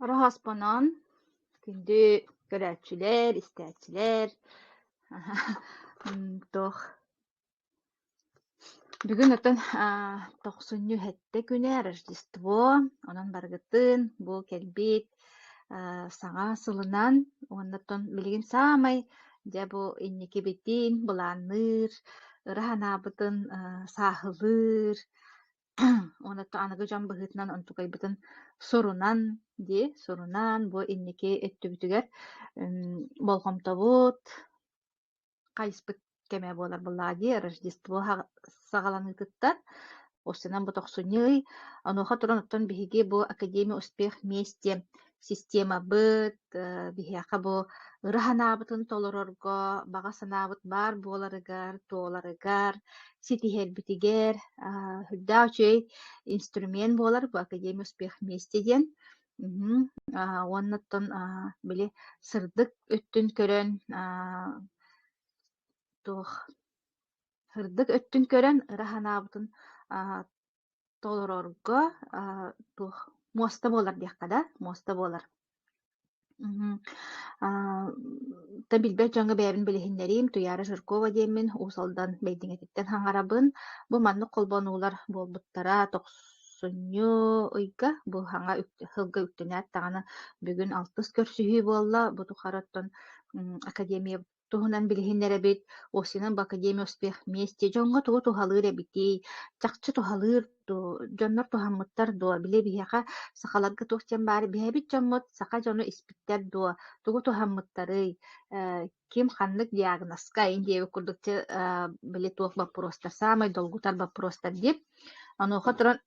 Роһааспанаан күндү көрөөччүлэр, истээччилэр туох бүгүн оттон тохсунньу сэттэ күнэ Рождество онон барыгытын бу кэлбит саҥа сылынан уоннаттан билигин саамай дьэ бу инникибитин былаанныыр, ыра санаабытын сааһылыыр уонна аныгы дьон быһыытынан онтукайбытын сурунан дии сурунан бу инники өттүбүтүгэр болҕомтобут хайыспыт кэмэ буолар быллади Рождество саҕаланыытыттан Устинан бу тохсунньу онуоха туран оттон биһиги бу Академия успех вместе системабыт биһиэхэ бу ыра санаабытын толорорго баҕа санаабыт баар буоларыгар туоларыгар ситиһэрбитигэр үрдээх үчүгэй инструмент буолар бу Академия успех вместе диэн Мгм. Аа, уонна оттон, аа, били сырдык өттүн көрөн, аа, туох сырдык өттүн көрөн ыра санаабытын, аа, толорорго, аа, туох муоста буолар диэххэ да, муоста буолар. Мгм. Аа, та билбэт дьоҥҥо бэйэбин билиһиннэриим, Туйаара Жиркова диэммин, Уус Алдан Бэйдиҥэтиттэн хаҥарабын. Бу маннык холбонуулар буолбуттара, тохс Сунньу-ыйга бу саҥа сылга үктэнээт даҕаны бүгүн алтыс көрсүһүү буолла. Бу тухары оттон академия туһунан билиһиннэрэбит. Осинын бу академия успех вместе дьоҥҥо тугу туһалыыр эбитий? Чахчы туһалыыр дуу? Дьоннор туһаммыттар дуу? Били биһиэхэ сахаларга туох диэн баар биһэбит дьоммут саха дьону испиттэр дуо? Тугу туһаммыттарый? ким ханнык диагноска ин диэби курдукчу били туох боппуруостар саамай долгутар боппуруостар диир онуоха туран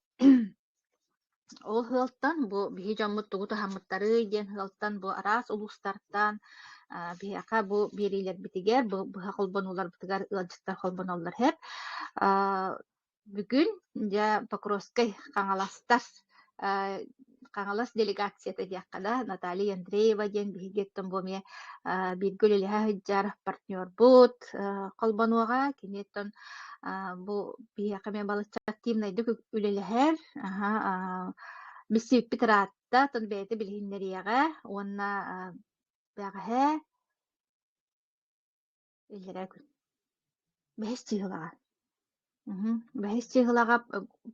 ол сыалтан бу биһи дьоммут тугу таһаммыттарый диэн сыалтан бу араас улуустартан биһиэхэ бу биэриилэрбитигэр быһа холбонууларбытыгар ыалдьыттар холбоноллор сэп Бүгүн дьэ Покровскай Хаҥаластар Хаҥалас делегацията диэххэ да Наталья Андреева диэн биһиги оттон бу эмиэ бииргэ үлэлэһэ сылдьар партнербут холбонуоҕа кини оттон бу биһиэхэ эмиэ балачча активнайдык үлэлэһэр билсибиппит ыраатта оттон бэйэтэ билиһиннэриэҕэ уонна бэҕэһээ Иллэрээ күн. Бэһис чыыһылаҕа. Уһу. Бэһис чыыһылаҕа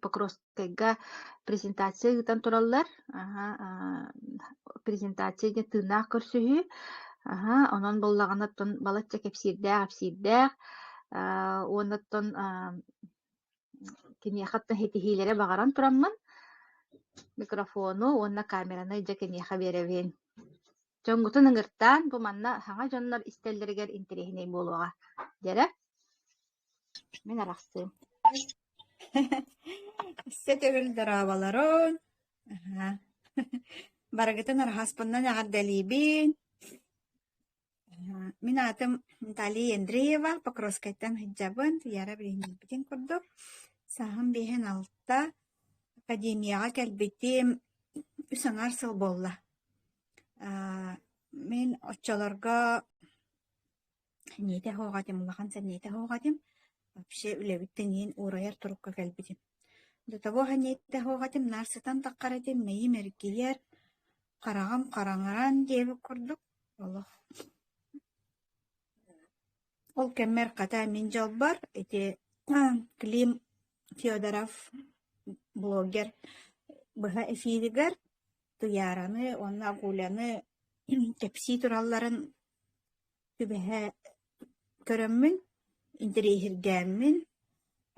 Покровскайга презентация ыытан тураллар. Аһа, аа, презентация диэн тыыннаах көрсүһүү. Аһа, онон буоллаҕына оттон балачча кэпсиирдээх-ипсиирдээх, аа, уонна оттон аа, киниэхэ оттон ситиһиилэри баҕаран тураммын, микрофону уонна камеранай дьэ киниэхэ биэрэбин. дьоҥҥутун ыҥыртаан, бу манна саҥа дьоннор истэллэригэр интэриэһинэй буолуоҕа, диэрэ. Мин арахсыым. Сэ төгүл дорооболорун. Аха. Барыгытын арааспыннан эҕэрдэлиибин. Мин аатым Наталья Андреева, Покровскайтан сылдьабын, Яра билиниэппитин курдук. Сааһым биэһин алта, академияҕа кэлбитим үс аҥаар сыл буолла. Мин оччолорго ниитэ суох этим, улахан ниитэ суох этим. Вообще үлэбиттэн иһин уурайар турукка кэлбитим. До того ниитэ суох этим, наар сытан таххар этим, мэйиим эргийэр, хараҕым хараҥаран диэбит курдук олох ол кэммэр хата мин дьолбор ити Клим Федоров блогер быһа эфиригэр Туйаараны уонна Агуляны кэпсии туралларын түбэһэ көрөммүн, интэриэһиргээммин,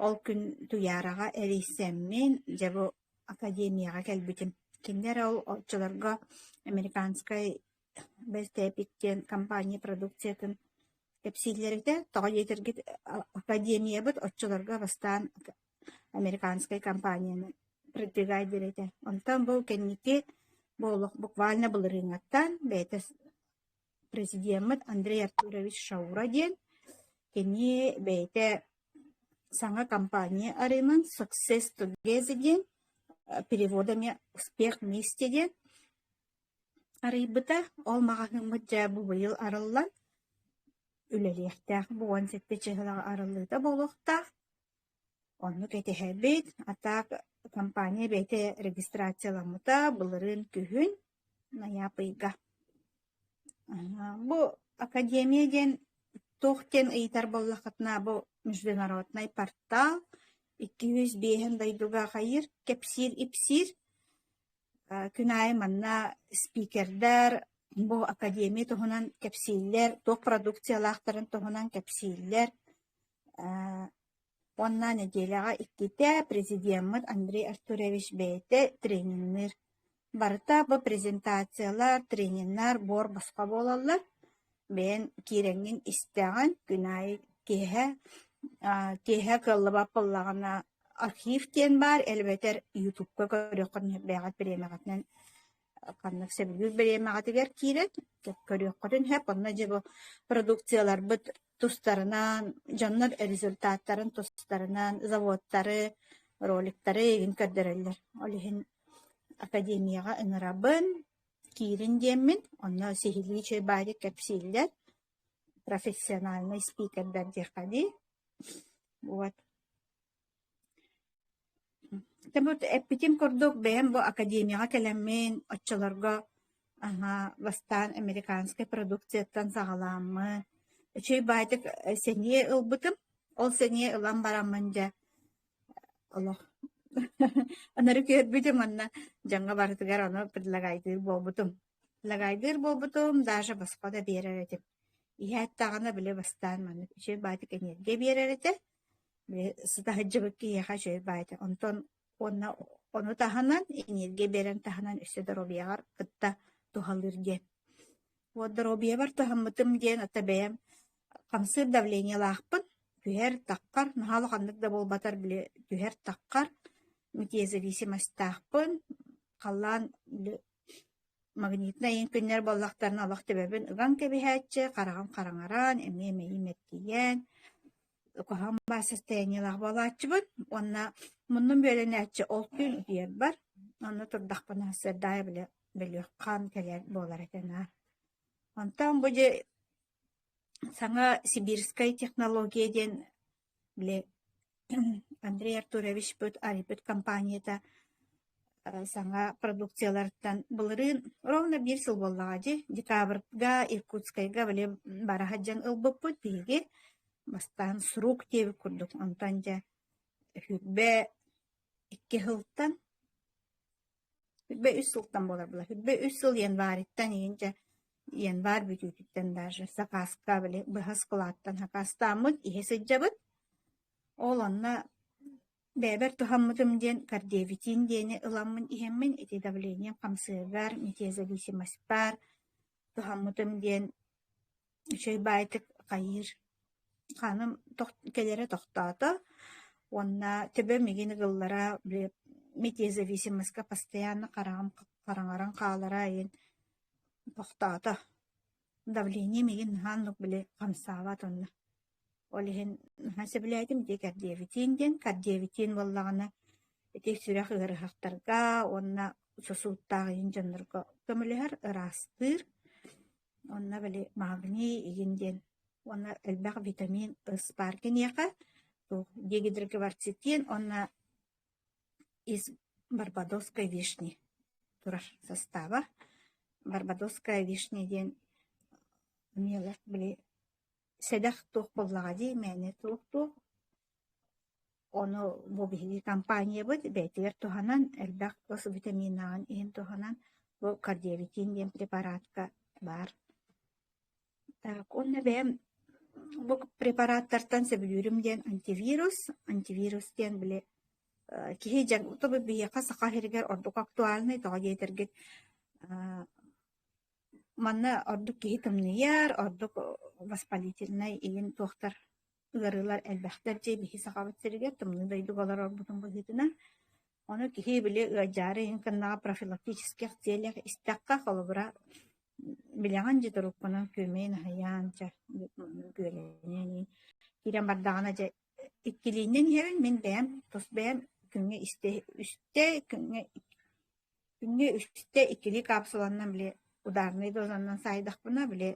ол күн Туйаараҕа эрийсэммин, дьэ бу академияҕа кэлбитим. Кинини эрэ ол оччолорго американскай Бэлтэпик диэн компания продукциятын кэпсииллэр этэ. Тоҕо диэтэргит, академиябыт оччолорго бастаан американскай компанияны продвигать диэри Онтон бу кэнники буолуох буквально былырыыҥҥаттан бэйэтэ президеммыт Андрей Артурович Шаура диэн кини бэйэтэ саҥа компания арыымын Success Together диэн переводами «Успех вместе» диэн арыйбыта. Ол маҕаһыыммыт дьэ бу быйыл арыллан үлэлиэхтээх, бу уон сэттэ чыһылаҕа арыллыыта буолуохтаах. Оннук этиһэбит, а так компания бэйэтэ регистрацияламмыта, былырыын күһүн Найаапыйга. Бу академия диэн туох диэн ыйытар буоллаххытына, бу международнай портал, икки жүз биэһин дойдуга хайыыр, кэпсиир-ипсиир. Күн аайы манна спикердэр бу академия туһунан кэпсииллэр, туох продукциялаахтарын туһунан кэпсииллэр. Уонна нэдиэлэҕэ иккитэ президеммыт Андрей Артурович бэйэтэ тренинниир. Барыта бу презентациялар, трениннэр, буор босхо буолаллар. Бэйэн киирэҥҥин истэҕин, күн аайы киэһэ киэһэ кыаллыбат буоллаҕына архив диэн баар, элбэтэр ютубка көрүөххүт сөп бэйэҕит бириэмэҕитинэн ханнык сөбүлүүр бириэмэҕитигэр киирэн көрүөххүтүн сөп. Онно дьэ бу продукцияларбыт тустарынан, дьоннор результаттарын тустарынан заводтары, роликтары игин көрдөрөллөр. Ол иһин академияга ыҥырабын, киирин диэммин, онно сиһилии чэй баайы кэпсииллэр, профессиональный спикердэр диэххэ дии. Вот. Эппитим курдук, бэйэм бу академияҕа кэлэммин, оччолорго бастаан американскай продукцияттан саҕаламмын, үчүгэй-баайтык сэниэ ылбытым. Ол сэниэ ылан бараммын дьэ олох ынырык үөрбүтүм уонна дьаҥҥа барытыгар ону предлагайдыыр буолбутум. Предлагайдыыр буолбутум, даже босхо да биэрэр этим. Иһээт даҕаны били бастаан маннык үчүгэй-баайтык энергия биэрэр этэ. Сытаһыдьыбыт киһиэхэ үчүгэй баайата онтон уонна ону таһынан эниэргиэ биэрэн таһынан өссө доруобуйаҕар кытта туһалыыр диэн. Вот доруобуйабар туһаммытым диэн ата бэйэм хамсыыр давлениелаахпын, түһэр-такхар, наһаа улаханнык да буолбатар били түһэр-такхар, мытиезависимостаахпын, халлаан Магнитнай иҥкиннэр буоллахтарына олох төбөбүн ыган кэбиһээччи, хараҕым хараҥаран, эмиэ эмэйиим эргийэн, куһаҕан баар состояниелаах буолааччыбын уонна муннум бүөлэнээччи ол түүн утуйарбар, онно турдахпына сардаайа били бөлүөххээн кэлэр буолар этэ наар. Онтон бу дьэ саҥа сибирскай технология диэн Били Андрей Артуровичпыт Ариппыт компанията саҥа продукцияларыттан былырыын ровно биир сыл буоллаҕа дии декабрьга Иркутскайга били бара сылдьан ылбыппыт биһиги бастаан сурук диэбит курдук онтон дьэ сүүрбэ икки сылтан Үрбэ үс сылтан буоларбылар. Үрбэ үс сыл январьыттан иһинчэ январь бүтүүтүттэн даже сакааска били быһа складтан сакаастааммыт, иһэ сылдьабыт. Ол онно бэйэбэр туһаммытым диэн кардиовитин диэни ыламмын иһэммин, ити давлением хамсыагар, метеозависимость баар, туһаммытым диэн Чэй баайтык хайыыр. Ханым кэлэрэ тохтоото уонна төбөм игин ыгыллара митиэ зависимоска постоянно хараҥаран хаалара иһин тохтоото. Давлением игин наһаа оннук били хамсаабат онно. Ол иһин наһаа сөбүлээтим дии кардиовитиин диэн. Кардиовитиин буоллаҕына ити сүрэх ыарыһахтарга уонна сосудтаах иһин дьоннорго көмөлөһөр, ыраастыыр. Онно били магний, игин диэн уонна элбэх витамин, ыс баар киниэхэ, туох дигидрогварцитин уонна из барбадосской вишни турар састааба. Барбадосская вишня диэн эмиэ олох били сэдэх туох буоллаҕа дии мээнэ туох-туох ону бу биһиги компаниябыт бэйэтигэр туһанан элбэх тус витаминаҕын иһин туһанан бу кардиовитин диэн препаратка баар так уонна бэйэм бу препараттартан сөбүлүүрүм диэн антивирус антивирус диэн били киһи дьаҥ тобу биһиэхэ саха сиригэр ордук актуальный тоҕо диэтэргит Манна ордук киһи тымныйар, ордук воспалительнай иин туохтар ыарыылар элбэхтэр дьиэбиһи Сахабыт сиригэр тымныы дойдуга олорорбутун быһыытынан. Ону киһи били ыалдьаары иһин кэннэҕэ профилактических целях истэххэ, холобура, билэҕин дьэ туруккунан күөмэйин аһыйаан, чэ, күөлэниэн иһин киирэн бардаҕына дьэ иккилииннэн иһэбин мин бэйэм тус бэйэм күҥҥэ истэ истэ күҥҥэ Күҥҥэ үстэ иккилии каапсуланна били ударнай дозанан саайдахпына били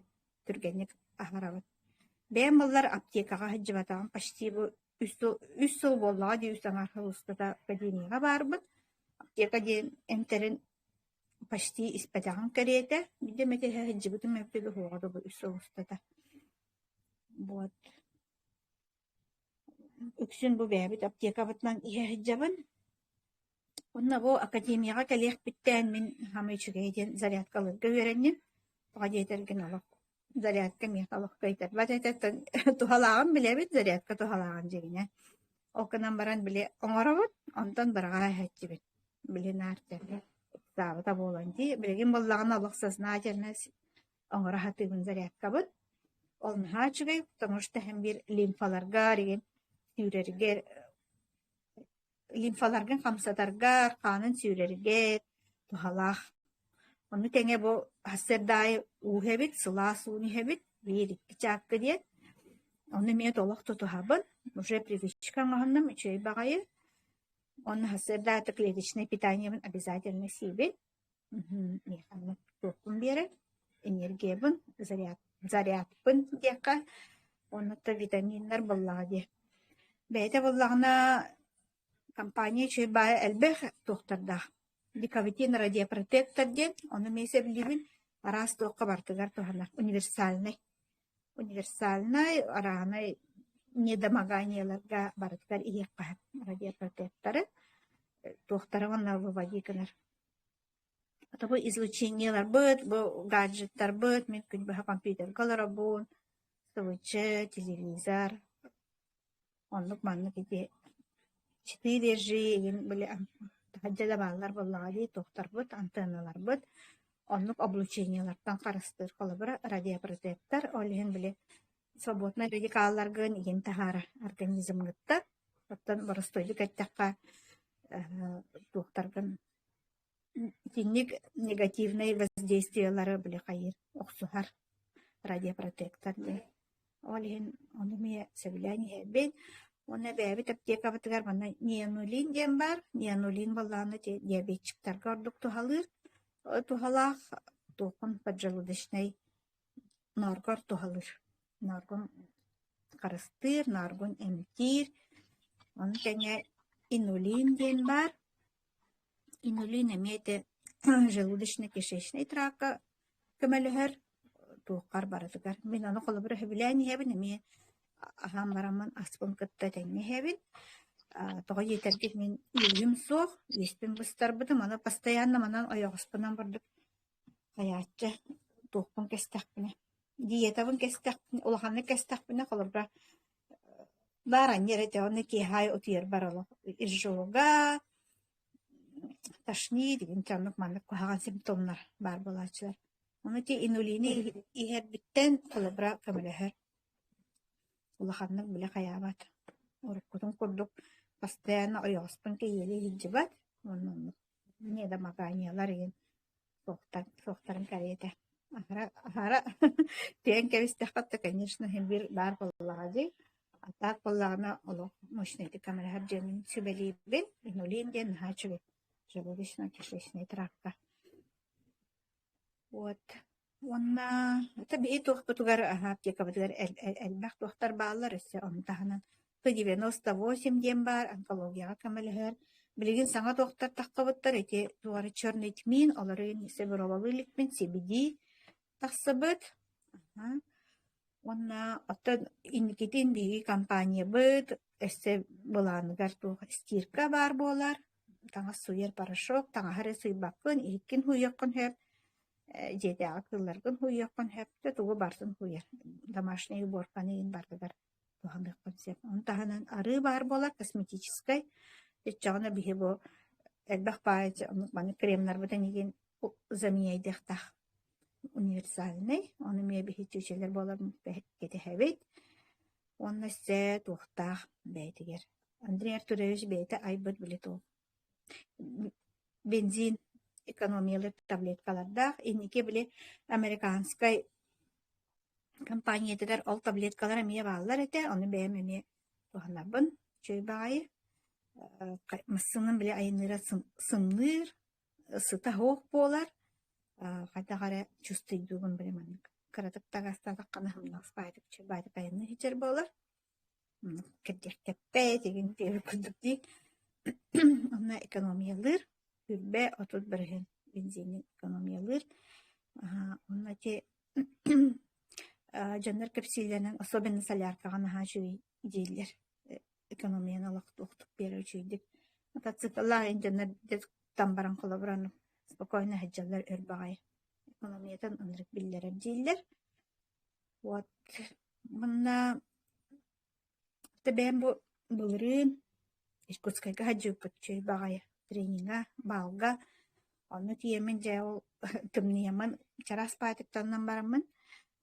түргэнник аһарабыт. Бэйэм буоллар аптекаҕа сылдьыбатаҕым почти бу үс сыл үс сыл буоллаҕа дии үс аҥаарга устата поликлиникаҕа баарбыт. Аптека диэн эмтэрин почти испэтэҕим кэриэтэ. Биирдэ эмэ тэһэ сылдьыбытым мөккү да суоҕа дуу бу үс сыл устата. Вот. Үксүн бу бэйэбит аптекабытынан иһэ сылдьабын. Уонна бу академияҕа кэлиэхпиттээн мин саамай үчүгэйэ диэн зарядка ыларга үөрэнним. Тоҕо диэтэргин олох зарядка миэхэ олох кыайтарбат этэ. Туһалааҕын билэбит, зарядка туһалааҕын дьиҥинэ. Ол гынан баран били оҥоробут, онтон быраҕаа иһэччибит. Били наартарга ыксаабыта буолан дии. Билигин буоллаҕына олох сознательно оҥоро сатыыбын зарядкабыт. Ол наһаа үчүгэй, потому что эһэм биир лимфаларга, сүүрэргэ лимфаларгын хамсатарга, хаанын сүүрэргэр туһалаах. Ону тэҥэ бу сарда аайы ууһа эбит, сылаас уун иһэбит, биир-икки чаакка диэн. Ону эмиэ олох тутуһабын. Уже привычка оҥоһуннум, үчүгэй баҕайы. Уонна сарда аайы клеточное питаниебын обязательно сиибин. Миэхэ туохпун биэрэр? Энергиябын, зарядпын диэххэ, уонна витаминнар буоллаҕа дии. Бэйэтэ буоллаҕына, компания үчүгэй баайа элбэх туохтардаах. Декавитин радиопротектор диэн, ону эмиэ сөбүлүүбүн. Араас туохха барытыгар туһанар, универсальнай. универсальнай, арааһынай недомоганиеларга барытыгар иһиэххэ радиопортуттары туохтара уонна выводи гынар. Тобу излучениеларбыт, бу гаджеттарбыт, мин күн быһа компьютерга олоробун, сылыччы, телевизор, Оннук маннык ити ситии держии иһин били таһырдьа да бааллар буоллаҕа дии туохтарбыт антенналарбыт оннук облучениелартан харыстыыр холобура радиопротектор ол иһин били свободнай радикалларгын иһин таһаарар организмгыттан оттон боростуойдук эттэххэ туохтаргын Итинник негативнай воздействиелары били хайыыр охсуһар радиопротектор дии. Ол иһин ону эмиэ сөбүлээн иһэрбин. Уонна бэйэбит аптекабытыгар манна нианулин диэн баар. Нианулин буоллаҕына ити диабетчиктарга ордук туһалыыр. Э, туһалаах туохун поджелудочнай норгор туһалыыр. Норгун харыстыыр, норгун эмтиир. Ону тэҥэ инулин диэн баар. Инулин эмиэ ити желудочно-кишечнай трака көмөлөһөр, туоххар барытыгар. Мин ону холобура сөбүлээн иһэбин, эмиэ аһаан бараммын аспын кытта тэҥҥэ иһэбин. Аа тоҕо диэтэргин мин үөрүүм суох, үөспүн быстарбытым, аны постоянно манан ойоҕоспунан бурдук хайааччы туохпун кэстэхпинэ, диетабын кэстэхпинэ, улаханнык кэстэхпинэ холобура Баар аньыы эрэ этэ уонна киэһэ утуйар бар олох ижога тошни дигин ити оннук маннык куһаҕан симптомнар баар буолааччылар. Ону ити инулины иһэрбиттэн холобура көмөлөһөр. Улаханнык били хайаабат. Уруккутун курдук постоянно ойоҕоспун кэйиэли иһирдьибат уонна оннук. Ниэ да макааньалар иһин суохтан суохтарын кэриэтэ аһара аһара тиэн кэбистэххитэ конечно иһин бир баар буоллаҕа дии а так буоллаҕына олох мощнайдык камераһар дьиэмин сүбэлиибин инулиин диэн наһаа үчүгэй чудовищно кишечный травка Уот уонна ата биһи туохпутугар аһа аптекабытыгар эл э элбэх туохтар бааллар өссө ону таһынан сто девяносто восемь диэн баар онкологияҕа көмөлөһөр. Билигин саҥа туохтар тахсыбыттар ити туора черный тмин олорун сэбиробалыы иликпин сибиди тахсыбыт. Аха Уонна оттон инникитин биһиги компаниябыт өссө былааныгар туох стирка баар буолар, таҥас суйар порошок, таҥаһы эрэ суйбаккын, иһиккин һуйуоххун сөп, э, дьиэтээҕи кыылларгын һуйуоххун сөп, да тугу барытын һуйар. Домашнай уборканы иһин барытыгар туһаныаххын сөп. Ону таһынан арыы баар буолар, косметическай. Өччөҕүнэ биһи бу элбэх баайыччы оннук маны кремнарбытын игин заменяйдыахтаах. универсальнай, ону эмиэ биһиги чыычалар буолар кэтэһэбит уонна сэ туохтаах бэйэтигэр Андрей Артурович бэйэтэ айбыт били тул бензин экономиялар таблеткалардаах инники били американскай компаниятыгар ол таблеткалар эмиэ бааллар этэ ону бэйэм эмиэ туһанарбын чөй баҕайы массыынам били айанныыра сымныыр Сыта суох буолар, хайдах эрэ чувствуйдуубун били маннык кыратык да аҕыстаатаххына һымнаҕас баайдыкайанныы иһитэр буолар. Кирдиэхтэппэт, игин диир курдук дии. Онно экономиялыыр, күрбэ отут бырыһыан бензини экономиялыыр. Онно ити дьоннор кэпсиилэринэн особенно соляркаҕа наһаа үчүгэй дииллэр. экономияны олохтуохтук биэрэр үчүгэйдик мотоцикллаах инженер там баран холобуран спокойно сылдьаллар өр баҕайы экономиятын ынырык биллэрэр дииллэр вот манна тэбээн бу былырыын иркутскайга садьыыппыт чэй баҕайы трениҥа баалга Ону тиийэммин дьэ ол тымныйаммын чараас паатыктанан бараммын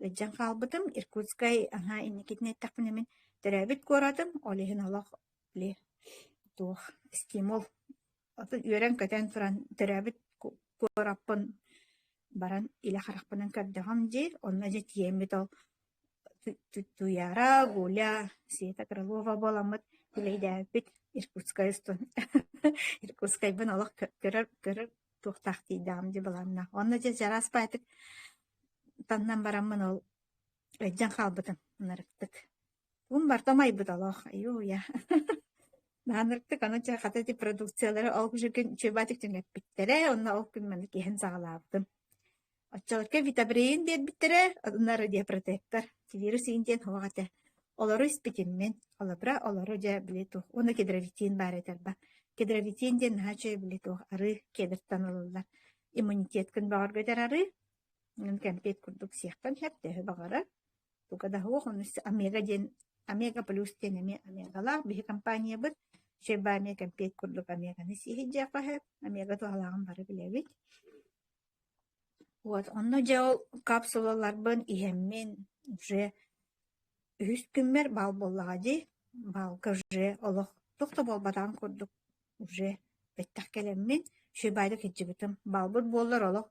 ыдьан хаалбытым. Иркутскай аҥаа инникитин эттэхпинэ мин төрөөбүт куоратым, ол иһин олох били туох стимул отут үөрэн-көтөн туран төрөөбүт куораппын баран илэ харахпынан көрдөҕүм диир. Онно дьэ тиийэммит ол Туйаара, Гуля, Света Крылова буоламмыт билэйдээбиппит Иркутскай Иркутскайбын олох көрөр көрөр туохтаах тиийдэҕим дии былааннаах. Онно дьэ чараас баайтык таннан бараммын ол өйдөн хаалбытым ынырыктык. Тун барта майбыт олох. Айууя. Наанырктык аны чэ хата ити продукциялары ол күн чөбаатык түҥэппиттэрэ, онно ол күн маны киһин саҕалаабытым. Оччоҕутга витобреин биэрбиттэрэ, атыннары диапротектор, силирус-иин диэн оһох этэ. Олору испитиммин, холобура, олору дьэ били туох уонна кедровитин баар этэ алба. Кедровитин диэн наһаа үчүгэй били туох арыы кедртан ылыллар. Иммунитеткын бөҕөргөтөр арыы. Ын кэмпиэт курдук сиэхтэн сөп, төһө баҕарар. Туга да суох, ону омега диэн омега плюс диэн эмиэ омегалаах биһи компаниябыт. Шеба эмиэ кэмпиэт курдук омеганы сиһиддьээх баһыт. Омега туһалааҕын бары билэбит. Уот онно дьэ ол капсулаларбын иһэммин дьэ үһүс күммэр бал буоллаҕа дии, балка дьэ олох туох да буолбатаҕын курдук дьэ бэттэх кэлэммин Шибайга кирдьибитим. Балбыт буоллар олох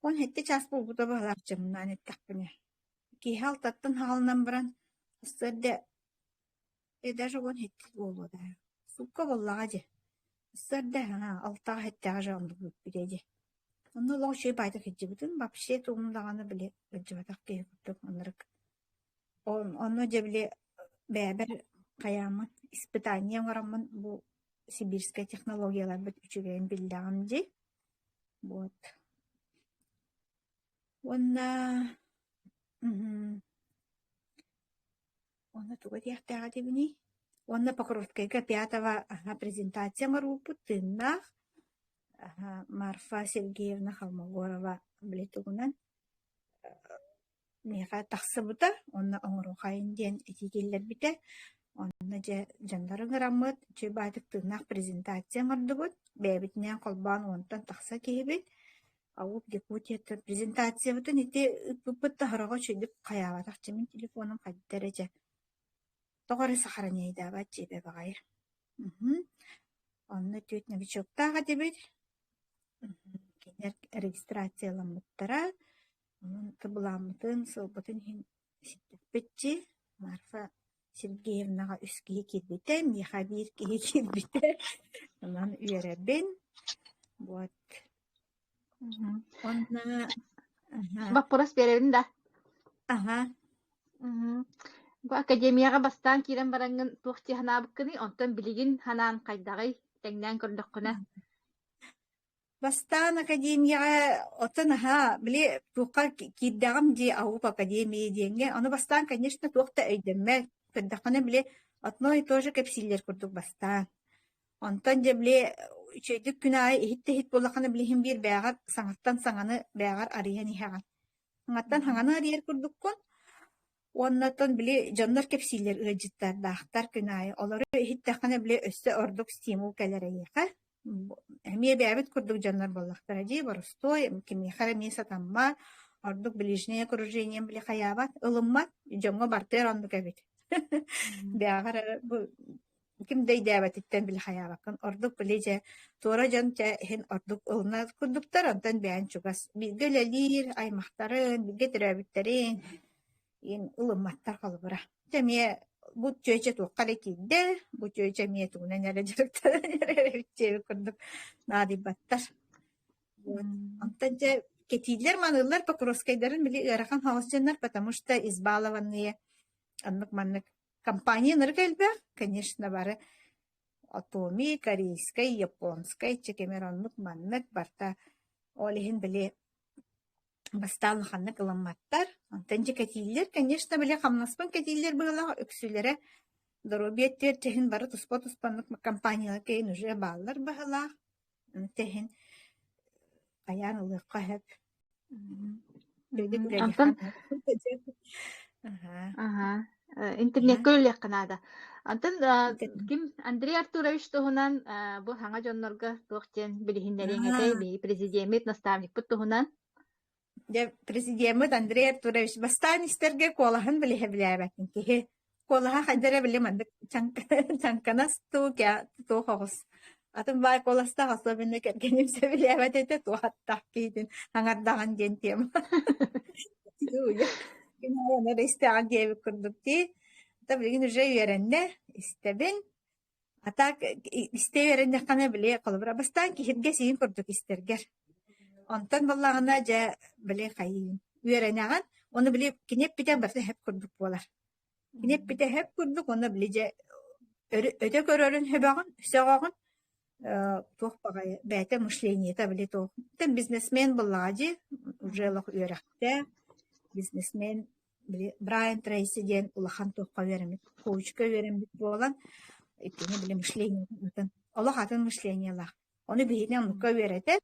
уон сэттэ чаас буолбута быһалаах дьымнаан эттэхпинэ. Киэһэ алтаттан хаалынан баран сарсыарда Эдэр уон икки буолуо да, суукка буоллаҕа дьэ, сарда алтаҕа сэттээх дьон билиэ дьэ. Онно олох үчүгэй баайдык сылдьыбытын вообще тугун даҕаны били сылдьыбатах киһи курдук маннык. Онно дьэ били бэйэбэр хайааммын испытание оҥороммун бу сибирскай технологияларбыт үчүгэйин биллэҕим дии. Вот. Уонна Онно тугу этиэхтээх этибиний? Уонна Покровскайга пятого аһа презентация оҥорбуппут тыыннаах аһа Марфа Сергеевна Холмогорова били тугунан миэхэ тахсыбыта уонна оҥоруохайын диэн этии киллэрбитэ. Онно дьэ дьоннор ыҥыраммыт, чыйбаатык тыыннаах презентация оҥордубут. Бэйэбитинээн холбоон уонтан тахса киһибит Авоб Якутияттан презентациябытын ити ыппыппыт да сороҕо үчүгэйдик хайаабатах дьэ мин телефоном хайдах эрэ дьэ тоҕо эрэ сахараниайдаабат дьиэбэ баҕайы мхм онно түөрт новичоктаах этибит мхм кинилэр регистрацияламмыттара онон кыбылааммытын сылбытын иһин Эситтиппитчи Марфа Сергеевнаҕа үс киһи киирбитэ, миэхэ биир киһи киирбитэ, онон үөрэбин. Вот. Мгм. Уонна аһа, Боппуруос биэрэбин да? аһа, Мгм. Бу академияҕа бастаан киирэн бараҥҥын туох дии санаабыккыный? Онтон билигин санаан хайдаҕый? Тэҥнээн көрдөххүнэ. Бастаан академияҕа оттон наһаа били туохха киирдэҕим дии АУП академии диэҥҥэ ону бастаан, конечно, туох да өйдөммөт. Көрдөххүнэ били одно и то же кэпсииллэр курдук бастаан. Онтон дьэ били үчүгэйдик күн аайы иһит да иһит буоллаххына били иһин биир бэйэҕэр саҥаттан саҥаны бэйэҕэр арыйан иһэҕин. Саҥаттан саҥаны арыйар курдуккун. Уоннаттан били дьоннор кэпсииллэр ыалдьыттардаахтар күн аайы. Олору иһиттэххинэ били өссө ордук стимул кэлэр эйиэхэ. Эмиэ бэйэбит курдук дьоннор буоллахтара дии, борустуой, кимиэхэ эрэ эмиэ сатаммат, ордук ближнее окружением били хайаабат, ылыммат, дьоҥҥо бартыар оннук эбит. Бэйэҕэр эрэ бу ким да өйдөөбөтүттэн били хайаабаккын. Ордук били дьэ туора дьон дьэ иһин ордук ылына курдуктар, онтон бэйэҥ чугас бииргэ үлэлиир аймахтарын, бииргэ төрөөбүттэрин, ин ылымматтар холобура дьэ эмиэ бу чүөчэ туохха эрэ киирдэ бу чүөчэ эмиэ тугунан эрэ дьарыктанан эрэ курдук наадыйбаттар онтон дьэ кэтиилэр маныылар покровскайдарын били ыарахан хаалсыннар потому что избалованные аннык маннык компания нырык элбэх конечно бары атоми корейскай японскай чекемер оннук маннык барта ол иһин били Бастаан улаханнык ылымматтар, онтон дьэ кэтииллэр. Конечно, били хамнаспын кэтииллэр быһыылаах, үксүлэрэ доруобуйа өттүгэр тэһин бары туспа-туспаннык компаниялар кэлин уже бааллар быһыылаах. Тэһин хайаан ылыахха эһэк. М, билигин Онтон билэниэххэ. Аха. Аһа. Интернетка үлэлиэххэ наада. Антон, ким Андрей Артурович туһунан бу саҥа дьоннорго туох диэн билиһиннэриэҥ этэй? Биһиги президеммит, наставникпыт туһунан. Дьэ, президеммит Андрей Артурович бастаан истэргэ куолаһын билиһэ билээбэтин киһи куолаһа хайдара били маннык чаҥканас туу туох оҕус Атын баай куоластаах особенно кэргэним сөбүлээбэт этэ туһаттах киитин хаҥардаҕын диэн тема. Кинилэр да истэҕин диэбит курдук дии. Та билигин уже үөрэннэ, истэбин. А так истэ үөрэннэххинэ били холобура бастаан киһиргэ сиин курдук истэргэр. Онтон баллаҕына дьэ били хайыын үөрэнэҕин, оны били киниэп питэн барса хеп курдук буолар. Кини эппитэһэр курдук уонна били дьэ өрө өтө көрөрүн сөбөҕүн сөҕөҕүн э, туох баҕайы бэйэтэ мышлениета били туох там бизнесмен быллаҕа дии уже олох үөрэхтээх бизнесмен били Брайан Трейси диэн улахан туохха үөрэммит коучка үөрэммит буолан иккини били мышлениетын олох атын мышлениелаах ону биһини оннукка үөрэтэр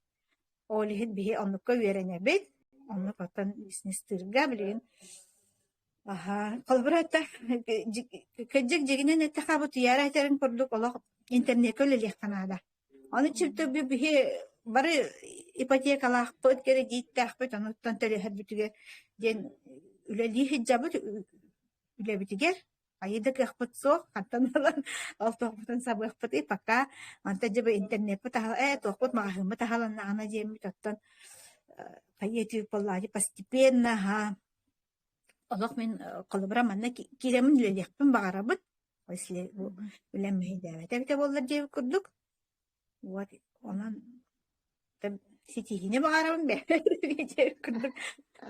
ол иһин биһи оннукка үөрэнэбит оннук оттон бизнестыырга билигин Аһаа, холобура этэ, кырдьык дьиҥинэн этэ хаба утуйаары этэрин курдук олох интернеккэ үлэлиэххэ наада. Ону чиртөггө биһи бары ипотекалаахпыт, кирэдииттээхпит, онуттан төлөһөрбүтүгэр диэн үлэлии сылдьабыт үлэбитигэр. Хайы да кыахпыт суох, хантан ылан олтуохпутун сабыахпытый пока. Онтон дьэ бу интернеппыт аһал, ээ туохпут маҕаһыыммыт аһаланнаҕына диэммит, оттон хайыы этиир буоллаҕа постепенно, аһаа Олох мин холобура манна кииремин үлэлиэхпин баҕарабыт. Если үлэм мүһэйдээбэтэ эбитэ буоллар диэбит курдук. Вот онон ситиһиини баҕарабын диэбит курдук.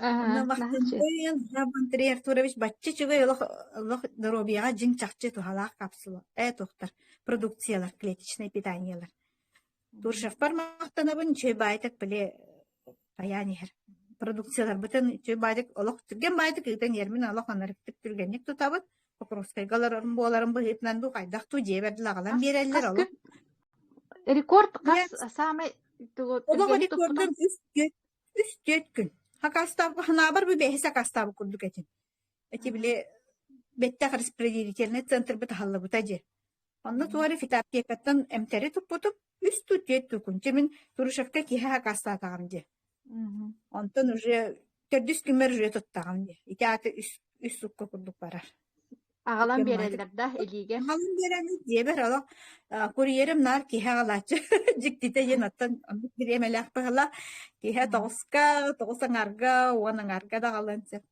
Онно Махтанчыйын, Андрей Артурович бачча үчүгэй олох олох доруобуйаҕа дьиҥ чахчы туһалаах капсула, э туохтар продукциялар, клеточнай питаниелар. Дуржевпар махтанабын, үчүгэй баайтык били айаан иһэр продукцияларбытын үчүгэй баайтык олох түргэн баайтык ыытан иэрмин олох анарыктык түргэнник тутабыт. Покровскайга олорорум буоларым быһыытынан дуу хайдах дуу дьиэ бэрдэ аҕалан биэрэллэр олох. Рекорд хас самый Олох рекордун үс үс төрт күн. Хакастаабы ханаабар бу бэһис хакастаабы курдук этим. Эти били бэттэх распределительнай центрбыт аһыллыбыта дьи. Онно тугу фитоаптекаттан эмтэри туппутум, үс тут түөрт тут күн. Чэ мин Турышевка киһи акаастаатаҕым дьи. Онтон уже төрдүс күммэр уже туттаҕым дьи. Ити ааты үс үс сукка курдук барар. Аҕалан биэрэллэр да илиигэ? Аҕалан биэрэмин диэбэр олох курьерым наар киһи аҕалааччы дьиктитэ диэн оттон бириэмэлээх быһыла киһи тоҕуска тоҕус аҥаарга уон аҥаарга даҕалан сөп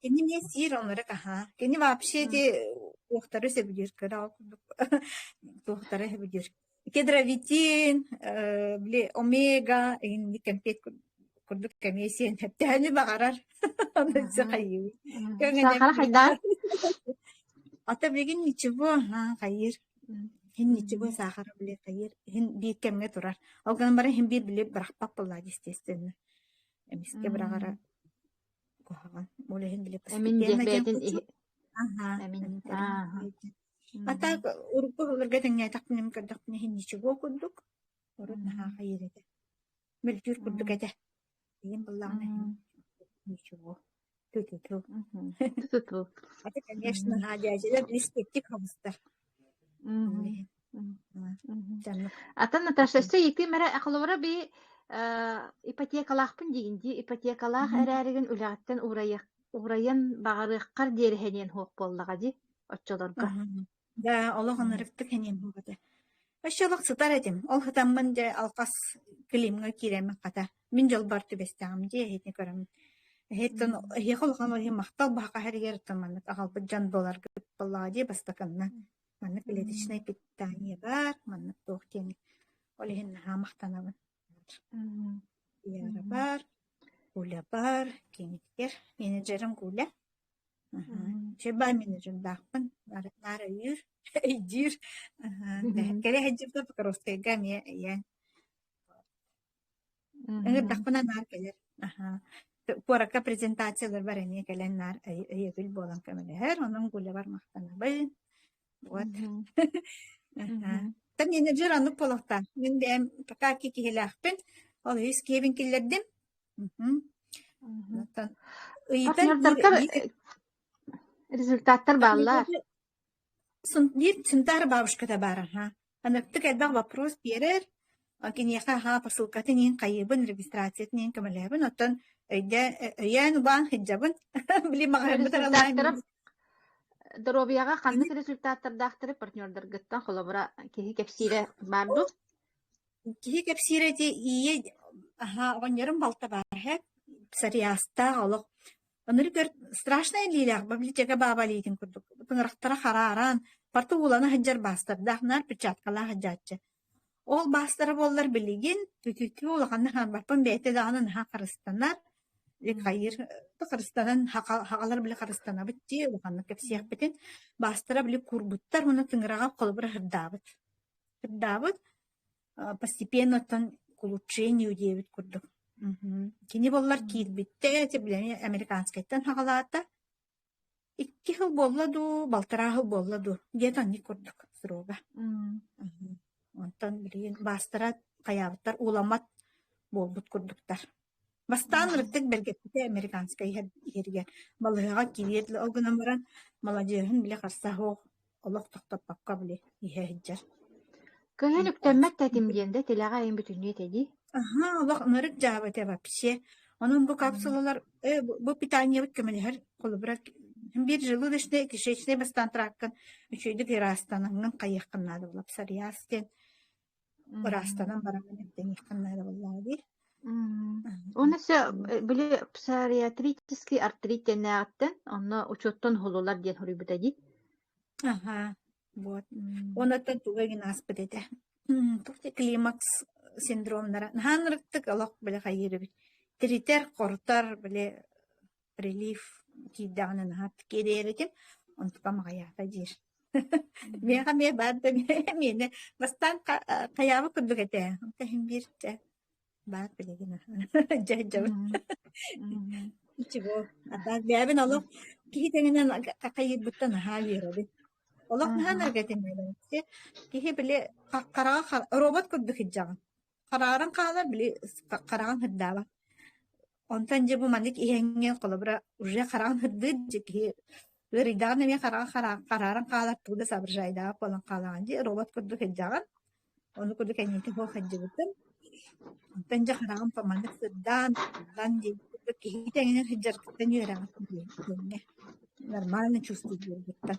Кини эмиэ сиир оннугар аһаа. Кини вообще ити туохтары сөбүлүүр кыра ол курдук туохтары сөбүлүүр. Кедровитин, э, били омега инник кэмпиэт курдук кэмиэ сиэн тэһэни баҕарар. Ону хайыы. Сахара хайдаа? Ата бүгін ничего, хайыр. Һин ничего сахара биле хайыр. Һин биир кэмгэ турар. Ол гынан баран һин биир биле бырахпак булла естественно. Эмискэ быраҕара Ол иһин били Эмин диэбээтин иһ эмин ааһа А так урукку оһолорго тэҥнээтэхпиним көрдөхпүнэ иһин ничего курдук урут наһаа хайыыр этэ мөлтүүр курдук этэ ийэм буллаҕына иһин ничего ту-ту-ту Туту. Аты, конечно, наадьа дьэдэр испиктик хабыста Ата Наташа өссө икким эрэ ахылора би ипотекалаахпын диин дии ипотекалаах эрээригин үлэҕиттэн уурайыах уурайан баҕарыаххар диэри хэниэн хуох буоллаҕа дии оччолорго да олох анарыккыт хэниэн буолбута өссө олох сытар этим ол сытаммын дьэ алқас климҥа кииреммин хата Мин дьалбаар түбэстэҕим дии эһиити көрөн. Эһиттэн эһиэхэ улахан ол иһин махтал баһака иһэригэр оттон маннык аҕалбыт дьон буоларгыт буоллаҕа дии бастакынна. Маннык клеточнай питание бар, маннык туох диэни. Ол иһин наһаа махтанабын. Яра бар, Куля бар, кинитгэр менеджерим Куля. Чебай менеджердаахпын. Наар өйүүр, өйдүүр. Кэрэ хадьыпта Покровскайга эмиэ ийээн. Ыҥырдахпына наар кэлэр. Аһа. Куоракка презентацияларбар эмиэ кэлэн наар өй- өйөбүл буолан көмөлөһөр. Онон гулябар махтанабын. Вот. Мгм. Аһа. Мгм. Та менеджер оннук буолуохтаах. Мин бэйэм пока ки киһилээхпин. Ол үһүс киэбин киллэрдим. Мгм. Мгм. Оттон Ах ыйытан биир- Ньурдарга биир результаттар бааллар. Биир Сунтаар бабушката баара аһаа, аныктык элбэх боппуруос биэрэр, киниэхэ аһаа посылкатын иһин хайыыбын, регистрациятын иһин көмөлөөбүн, оттон өйдөө өйөөн убаан сылдьабын, били маҕаһыыммыт аралаһан Доруобуйаҕа ханнык результаттардаахтары партнердаргыттан холобура киһи кэпсиирэ баар дуо? Киһи кэпсиирэ ити ийэ аһаа оҕонньорум балта баар эһэ, сарыйаастаах олох Ынырык өр страшнай илиилээх библиотека бааба илиитин курдук тыҥырахтара харааран, парта уулана сылдьар баастардаах наар перчаткалаах сылдьааччы. Ол баастара буоллар билигин бүгүҥҥү улаханнык хаалбаппын бэйэтэ даҕаны наһаа харыстанар, хайыыр харыстанан хаҕалар били харыстанабыт дии улаханнык кэпсиэхпитин баастара били куурбуттар уонна тыҥыраҕа холобура сырдаабыт. Сырдаабыт постепенно оттон улучшению диэбит курдук кини буоллар киирбиттэ эти билэн американскайтан хаҕалаата икки сыл буолла дуу балтараа сыл буолла дуу диэт анньык курдук срока онтон билигин баастара хайаабыттар ууламмат буолбут курдуктар Бастаан ырыктык бэргэппитэ американскай иһэр иһэригэр. Балыһаҕа кириэт ол гынан баран, маладьыаһын билэ харса суох, олох тохтоппокко били иһэ сылдьар. Көҥүл үктэммэт да этим диэн да тилэҕэ эйин бүтүннүү этэ дии. Аһа, олох ынырык дьаабы этэ вообще. Онон бу капсулалар э, бу бу питаниебыт көмөлөһөр холобура биир желудочнай кишечнай бастаан тырааккын үчүгэйдик ыраастанаҥҥын хайыаххын наада була сарыйаас диэн Ыраастанан баран эмтаниэххин наада буоллаҕа дии. Уонна өссө били псориатрический артрит диэннээҕиттэн онно учуоттан уһулулар диэн хоруйбута дии. Аһаа, вот. Уонаттан туга игин ааспыт этэ. Туох дии климакс синдромнара. Наһаа ырыктык олох били хайыырыбыт. Тиритэр, хорутар, били прилив киирдэҕинэ наһаа кириэритин онтукам аҕыйаата диир миэхэ эмиэ баар да миэнэ бастаан хайаабыт курдук этэ онто иһин биир дэ баар билигин дьэ дьэбин чего атаак бэйэбин олох киһи тэҥинэн хахайыырбыттан наһаа үөрэбин олох наһаа наргатиннэрэн киһи били хараҕа робот курдук иһдьэҕин Харааран хаалар били хараҕын һырдаабат. Онтон дьэ бу маннык иһэҥҥэ холобура уже хараҕын һырдыыр дьэ киһи ыарыйдаҕына эмиэ хараҕын хара харааран хаалар тугу да соображайдаҕа буолан хаалаҕын дии робот курдук һырдьаҕын. Ону курдук энньэтин һуох һырдьыбытым. Онтон дьэ хараҕым маннык сырдаан сырдаан диэн курдук киһи тэҥинэн һырдьаргыттан үөрэҕин диэҥҥэ нормально чувствует буолбуттан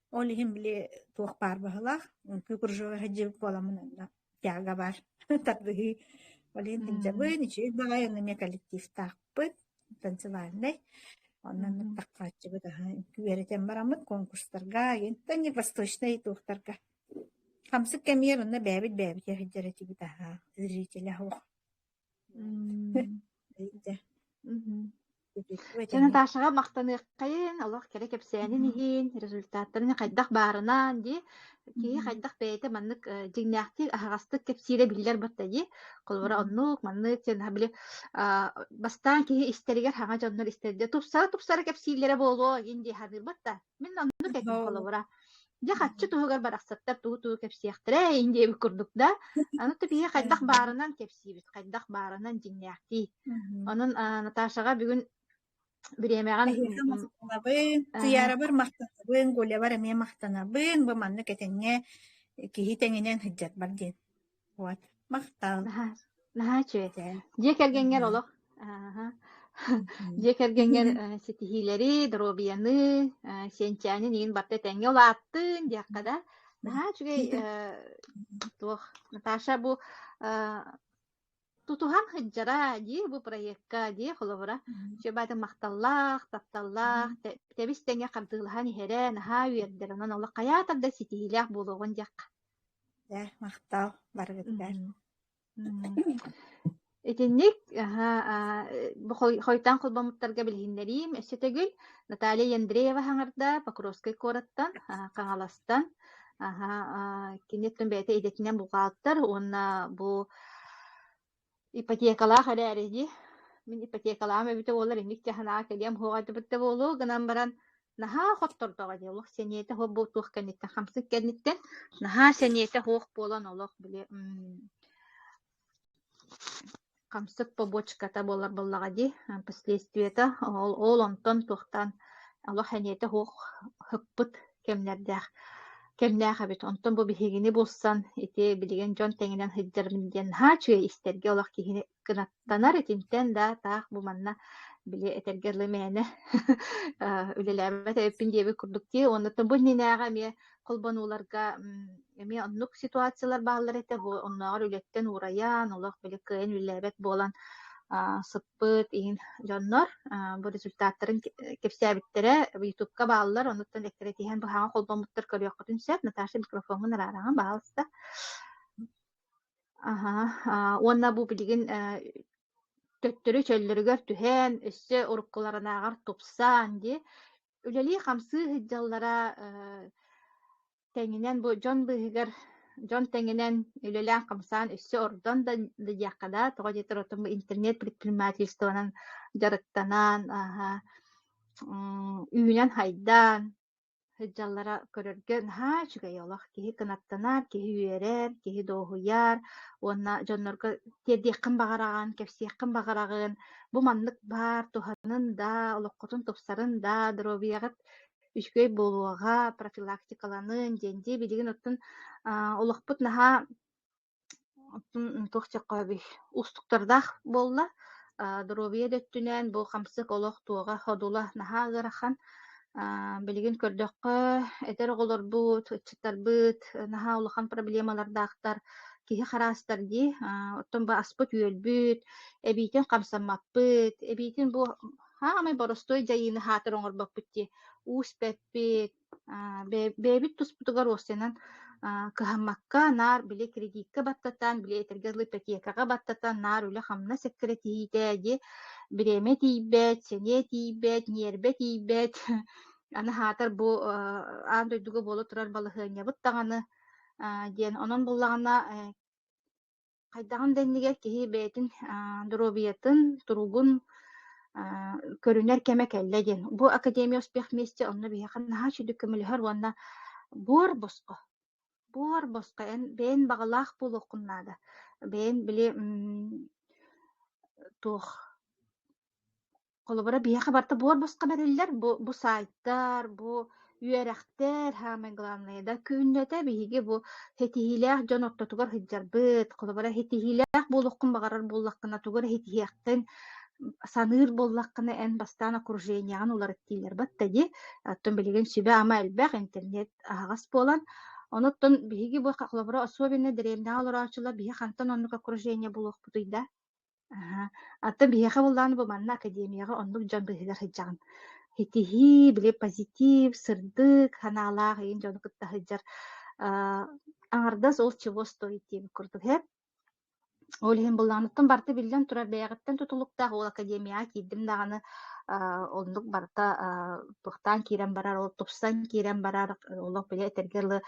Ол иһин били туох баар баһылаах, үҥкүү кружога сылдьыбыт буоламмын онно тяга баар тардыһыы. Ол иһин сылдьабын, үчүгэй баҕайы онно эмиэ коллективтаахпыт, танцевальнай. Онон аттаххааччыбыт аһы үҥкүү үөрэтэн бараммыт конкурстарга, итинтэн не восточнай туохтарга. Хамсык кэмигэр онно бэйэбит бэйэбитэ сылдьар этибит аһа, зрителэ суох. Эйдэ. Сэ Наташаҕа махтаныаххайын, олох кэрэ кэпсээнин иһин, результаттарын хайдах баарынан, дии. Киһи хайдах бэйэтэ маннык э, дьиҥнээхтик, аһаҕастык кэпсиирэ биллэр батта дии. Холобура, оннук, маннык, сен били а, бастаан киһи истэригэр хаҥа дьоннор истэрдэ тупсара-тупсара кэпсииллэрэ буолуо, ин дии саныырбат да. Мин оннук этим холобура. Дьэ хаччы туһугар барахсаттар тугу-тугу кэпсиэхтэрэ ин диэбит курдук да, аны типиһи хайдах баарынан кэпсиибит, хайдах баарынан дьиҥнээхтии. Онон Наташаҕа бүгүн бириэмэҕин Сыйаарабыр махтанабын, Гулябар эмиэ махтанабын, бу маннык этэҥҥэ киһи тэҥинэн сылдьар бар диэн. Уот махтал. Наһаа, наһаа үчүгэй. Дьиэ кэргэҥҥэр Мгм. олох ааһа. Дьиэ кэргэҥҥэр э, ситиһиилэри, доруобуйаны, э, сиэнчээнин иин барда этэҥҥэ улааттын диэххэ да. Наһаа үчүгэй э, туох. Наташа бу э, тутуһан сылдьара дии бу проекка дии холобура. Чөбаатын махталлаах, тапталлаах, тэ- тэбис тэҥэ хардыылаһан иһэрэ, наһаа үөрдэр. Онон олох хайаатар да ситиһиилээх буолуоҕун диэх. Дьэ, махтаал, барыгыттан. Итинник Хойтаан холбомуттарга билиһиннэриим. Өссө төгүл Наталья Яндреева Хаҥарда Покровскай куораттан, Хаҥаластан, кини өттүн бэйэтэ идэтинэн бухгалтер уонна бу ипотекалаах эрээри дии, мин ипотекалаах эбитэ буоллар инник дьэ санаҕа кэлиэм суоҕайдыбыт да буолуо гынан баран наһаа хоттордоҕо дии олох сэниэтэ суох буолуох кэнниттэн хамсык кэнниттэн наһаа сэниэтэ суох буолан олох били хамсык побочката буолар буоллаҕа дии последствията ол ол онтон туохтаан олох сэниэтэ суох хыппыт кэмнэрдээх кэмнээх эбит. Онтон бу биһигини булсан, ити билигин дьон тэҥинэн сылдьарым диэн наһаа үчүгэй истэргэ олох киһини кынаттанар итинтэн да таах бу манна били этэргэ дылы мээнэ үлэлээбэт эбиппин диэбит курдук дии. Оннуттан бу иннинээҕи эмиэ холбонууларга эмиэ оннук ситуациялар бааллар этэ. Бу оннооҕор үлэттэн уурайан, олох били кыайан үлэлээбэт буолан сыт Пыт иһин дьоннор бу результаттарын кэпсээбиттэрэ ютубка бааллар, онуттан эккирэтиһэн быһаҕа холбоммуттар көрүөххүтүн сөп. Наташа микрофоҥҥун араараҕын баҕаласта. Аһа, уонна бу билигин төттөрү чөллөрүгэр түһээн, өссө уруккуларынааҕар тупсан, дии, үлэлии-хамсыы сылдьаллара тэҥинэн бу дьон быыһыгар дьон тэҥинэн үлэлээн-хамсаан өссө ордон да диэххэ да тоҕо диэтэр отон бу интернет предпринимательствонан дьарыктанан аһа үүнэн хайдаан сылдьаллара көрөргө наһаа үчүгэй олох киһи кынаттанар киһи үөрэр киһи дуоһуйар уонна дьоннорго тиэрдиэххин баҕараҕын кэпсиэххин баҕараҕын бу маннык баар туһанын да олоххутун тупсарын да доруобуйаҕыт үчүгэй буолуоҕа, профилактикаланыын диэн дии билигин оттон олохпут наһаа оттон туох чоххооби уустуктардаах буолла доруобуйа да өттүнэн бу хамсык олох туоҕа ходула наһаа ыарахан билигин көрдөххө эдэр оҕолорбут ыччаттарбыт наһаа улахан проблемалардаахтар киһи хараастар дии оттон бу аспыт үөлбүт эбиитин хамсаммаппыт эбиитин бу хаамай боростуой дьайыыны аһаатар оҥорбоппут дии уус бэппит бэйэбит туспутугар уоссанан кыһаммакка наар били кредитка баттатан били этэргэ дылы ипотекаҕа баттатан наар үлэ-хамнас эккирэтиһиитэ дии бириэмэ тиийбэт сэниэ тиийбэт ньиэрбэ тиийбэт аны аһаатар бу аан дойдуга буола турар балаһыанньабыт даҕаны диэн онон буллаҕына хайдаҕын да иннигэр киһи бэйэтин доруобуйатын, туругун көрүнэр кэмэ кэллэ диэн. Бу Академия успех вместе онно биһиэхэ наһаа сүдүк көмөлөһөр уонна буор босхо. Буор босхо эн бэйэн баҕалаах буолуоххун наада. Бэйэн били туох Холобура, биһиэхэ барыта буор босхо бэриллэр. Бу, бу саайтар, бу үөрэхтэр, саамай главное, да күннэтэ биһиги бу ситиһиилээх дьон ортотугар сылдьарбыт. Холобура, ситиһиилээх буолуоххун баҕарар буоллаххына, тугу эрэ ситиһиэххин саныыр буоллаххына, эн бастаан окружениеҕын уларыттыылар батта дии. Оттон билигин сүбэ-ама элбэх, интернет аһаҕас буолан, онуттан биһиги бу холобура, особенно дэриэбинэҕэ олороочулар биһи хантан оннук окружение булуохпутуй да? Аһа. Оттон биһиэхэ буоллаҕына бу манна академияҕа оннук дьон быһыыга сылдьаҕын. Ситиһии, били позитив, сырдык санаалаах эйин дьону кытта сылдьар аа, аҥардас ол чего стоит диэн курдук иһэ. Ол иһин буллаҕыныттан барыта биллэн турар бэйэҕиттэн тутулуктаах. Ол академияҕа киирдим даҕаны аа, оннук барыта аа, туохтаан киирэн барар, ол тупсан киирэн барар, олох били этэргэ дылы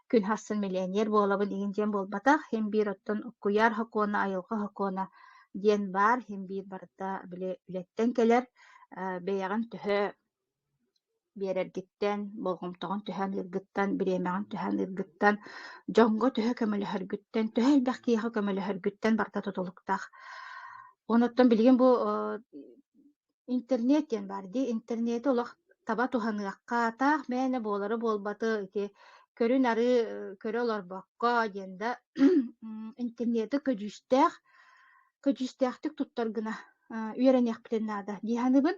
күн хассын миллионер буолабын иҥин диэн буолбатах. Хин биир оттон куйаар хокуона, айылҕа хокуона диэн баар. Хин биир барыта били үлэттэн кэлэр, бэйэҕин төһө биэрэргиттэн, болҕомтоҕун түһэн ыыргыттан, бириэмэҕин түһэн ыыргыттан, дьоҥҥо төһө көмөлөһөргүттэн, төһө элбэх киһиэхэ көмөлөһөргүттэн барыта тутулуктаах. Онуттан билигин бу Интернет диэн баар дии. Интернети олох таба туһаныахха, атаах мээнэ буолара-буолбаты ити көрүн арыы көрө олорбокко диэн да интернети көдьүүстээх көдьүүстээхтик туттар гына үөрэниэхпитин наада дии саныыбын.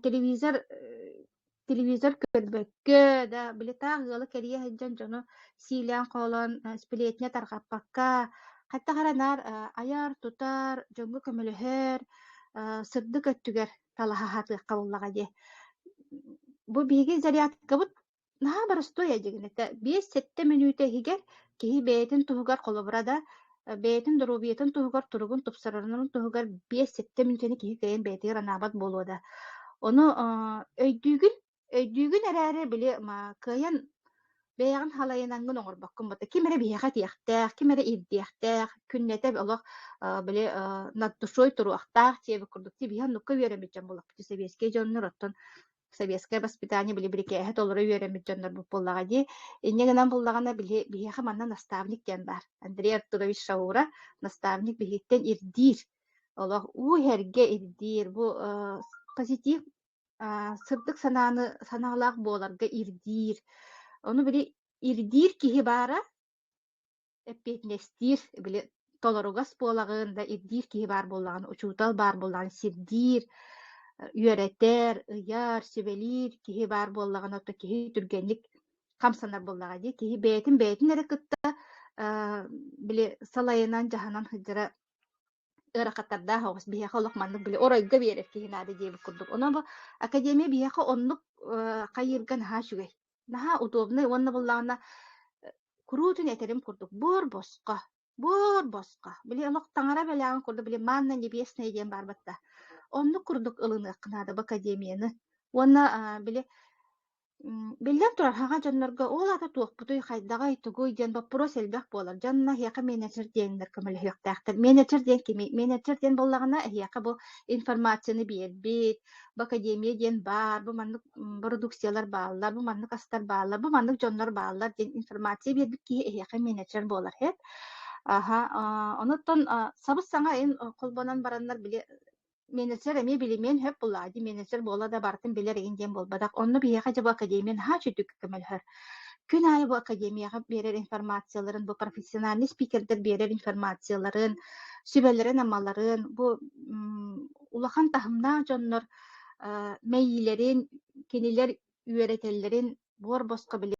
телевизор телевизор көрбөккө, да били таах ыалы кэрийэ сылдьан дьону сиилээн-хоолоон э, сплетня тарҕаппакка, хаттах эрэ наар э, айар, тутар, дьоҥҥо көмөлөһөр, э, сырдык өттүгэр талаһа сатыахха буоллаҕа дии. Бу биһиги зарядкабыт наһаа боростуой дьигинэтэ. Биэс-сэттэ мүнүүтэ иһигэр киһи бэйэтин туһугар холобура да, бэйэтин доруобуйатын туһугар туругун тупсарарын туһугар биэс сэттэ мүнчэни киһи кэйин бэйэтигэр анаабат буолуо да. Ону өйдүүгүн, өйдүүгүн эрээри били кыайан бэйэҕин халайынангын оҥорбоккун бата ким эрэ биһиэхэ этиэхтээх, ким эрэ ирдиэхтээх, күннэтэ олох били на душой туруохтаах, диэбит курдук, тиби оннукка үөрэммит дьон буолахпыт, сэбиэскэй дьоннор оттон Советское воспитание били бирикээһэ толору үөрэммит дьоннорбут буоллаҕа дии. Инньэ гынан буллаҕына били биһиэхэ манна наставник диэн баар. Андрей Артурович Шаура наставник биһиттэн ирдиир. Олох уу иһэргэ ирдиир. Бу позитив сырдык санааны санаалаах буоларга ирдиир. Ону били ирдиир киһи баара эппиэтинэстиир, били толоругас буолаҕын да ирдиир киһи баар буоллаҕына, учуутал баар буоллаҕына сирдиир, үөрэтэр, ыйар, сүбэлиир киһи баар буоллаҕына, то киһи түргэнник хамсанар буоллаҕа дии. Киһи бэйэтин бэйэтин эрэ кытта били салайынан, дьаһанан сылдьара ыарахаттардаах оҕус биһиэхэ олох маннык били оройго биэрэр киһи наада диэбит курдук. Онон бу академия биһиэхэ оннук э, хайыырга наһаа үчүгэй. Наһаа удобнай уонна буллаҕына куруутун этэрим курдук буор босхо, буор босхо. Били олох таҥара бэлэҕин курдук били манна небесная диэн баарбат да. Оннук курдук ылыныах наада в академияны. Уонна били Биллэн турар, саха дьоннорго ол аата туохпутуй, хайдаҕый, тугуй диэн боппуруос элбэх буолар. Дьонно эһиэхэ менеджер диэннэр көмөлөһүөхтээхтэр. Менеджер диэн кимий? Менеджер диэн буоллаҕына, эһиэхэ бу информацияны биэрбит, бу академия диэн баар, бу маннык бородукциялар бааллар, бу маннык астар бааллар, бу маннык дьоннор бааллар диэн информация биэрбит киһи эһиэхэ менеджер буолар эт. Аһа, онуттан сабыс-саҥа ин холбонон бараннар били Менеджер эмиэ билимиэн сөп буллаҕа дии, менеджер буола да барытын билэр игин диэн буолбатах. Онно биһиэхэ дьэ бу академия наһаа үчүгдүк көмөлөһөр. Күн аайы бу академияҕа биэрэр информацияларын, бу профессиональный спикердэр биэрэр информацияларын, сүбэлэрин-амаларын, бу улахан таһымнаах дьоннор мэйиилэрин, кинилэр үөрэтэллэрин буор босхо били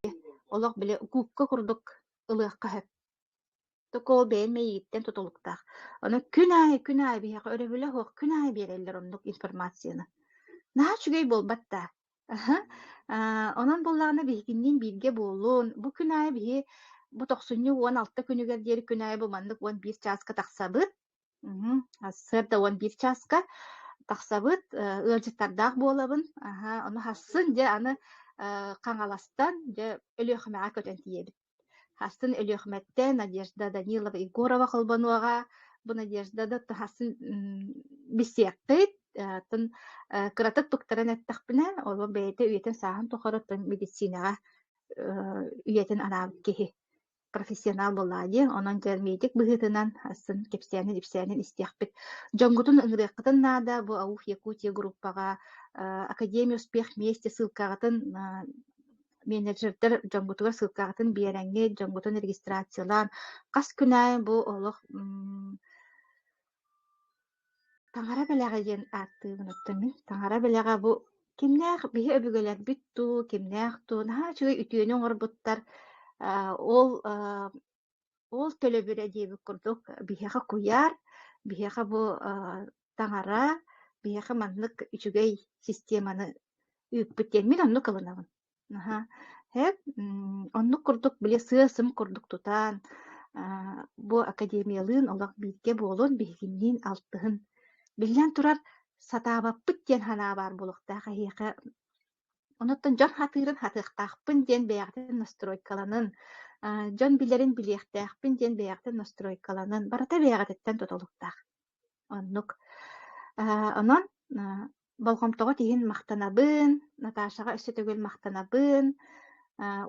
олох били укуукка курдук ылыахха сөп. Токуол бэйэм мэйииттэн тутулуктаах. Ону күн аайы, күн аайы биһиэхэ өрөбүлэ суох күн аайы биэрэллэр оннук информацияны. Наһаа үчүгэй буолбат даа? онон буоллаҕына биһигинниин бииргэ буолун. Бу күн аайы биһи бу тохсунньу уон алта күнүгэр диэри күн аайы бу маннык уон биир чааска тахсабыт. Сырда уон биир чааска тахсабыт. ыалдьыттардаах буолабын. Ону харсын дьэ аны Хаҥаластан дьэ Өлүөхүмэҕэ көтөн тиийэбит. Хастан Өлүөхүмэттэн Надежда Данилова Егорова холбонуоҕа. Бу Надежда да хасын бисиэккит, атын кыратык туктаран эттэхпинэ, ол бэйэтэ үйэтин сааһын тухары оттон медицинаҕа үйэтин анаабыт киһи профессионал буоллаа диэн, онон дьэрмийтик быһыытынан сын кэпсээнин-ипсээнин истиэхпит. Дьоҥҥутун ыҥырыаххытын наада бу АУФ Якутия группаҕа Академия успех вместе ссылкаҕытын менеджердэр дьоҥҥутугар ссылкаҕытын биэрэҥҥит, дьоҥҥутун регистрациялаан, хас күн аайы бу олох таҥара бэлэҕэ диэн ааттыы гынаттым мин. Таҥара бэлэҕэ бу кимнээх биһи өбүгэлэрбит дуу, кимнээх дуу наһаа үчүгэй үтүөнү оҥорбуттар. Ол Ол төлөбүрэ диэбит курдук, биһиэхэ куйаар, биһиэхэ бу таҥара, биһиэхэ маннык үчүгэй системаны үүппүт диэн мин оннук ылынабын. Аһа. Эт оннук курдук били сыа-сым курдук тутаан бу академиялыын олох бииргэ буолун, биһигинниин алтыһын. Биллэн турар, сатаабаппыт диэн санаа баар буолуохтаах эһиэхэ Онуттан дьон хатыырын хатыахтаахпын диэн бэйэҕитин настройкаланын, дьон билэрин билиэхтээхпин диэн бэйэҕитин настройкаланын, барыта бэйэҕититтэн тутулуктаах. Оннук. Онон болҕомтоҕут иһин махтанабын, Наташаҕа өссө төгүл махтанабын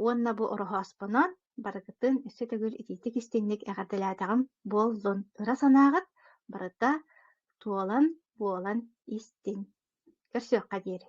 уонна бу ороһооспонон барыгытын өссө төгүл итиитик-истиҥник эҕэрдэлээтэҕим буоллун. Ыра санааҕыт барыта туолан буолан истин. Көрсүөххэ диэри.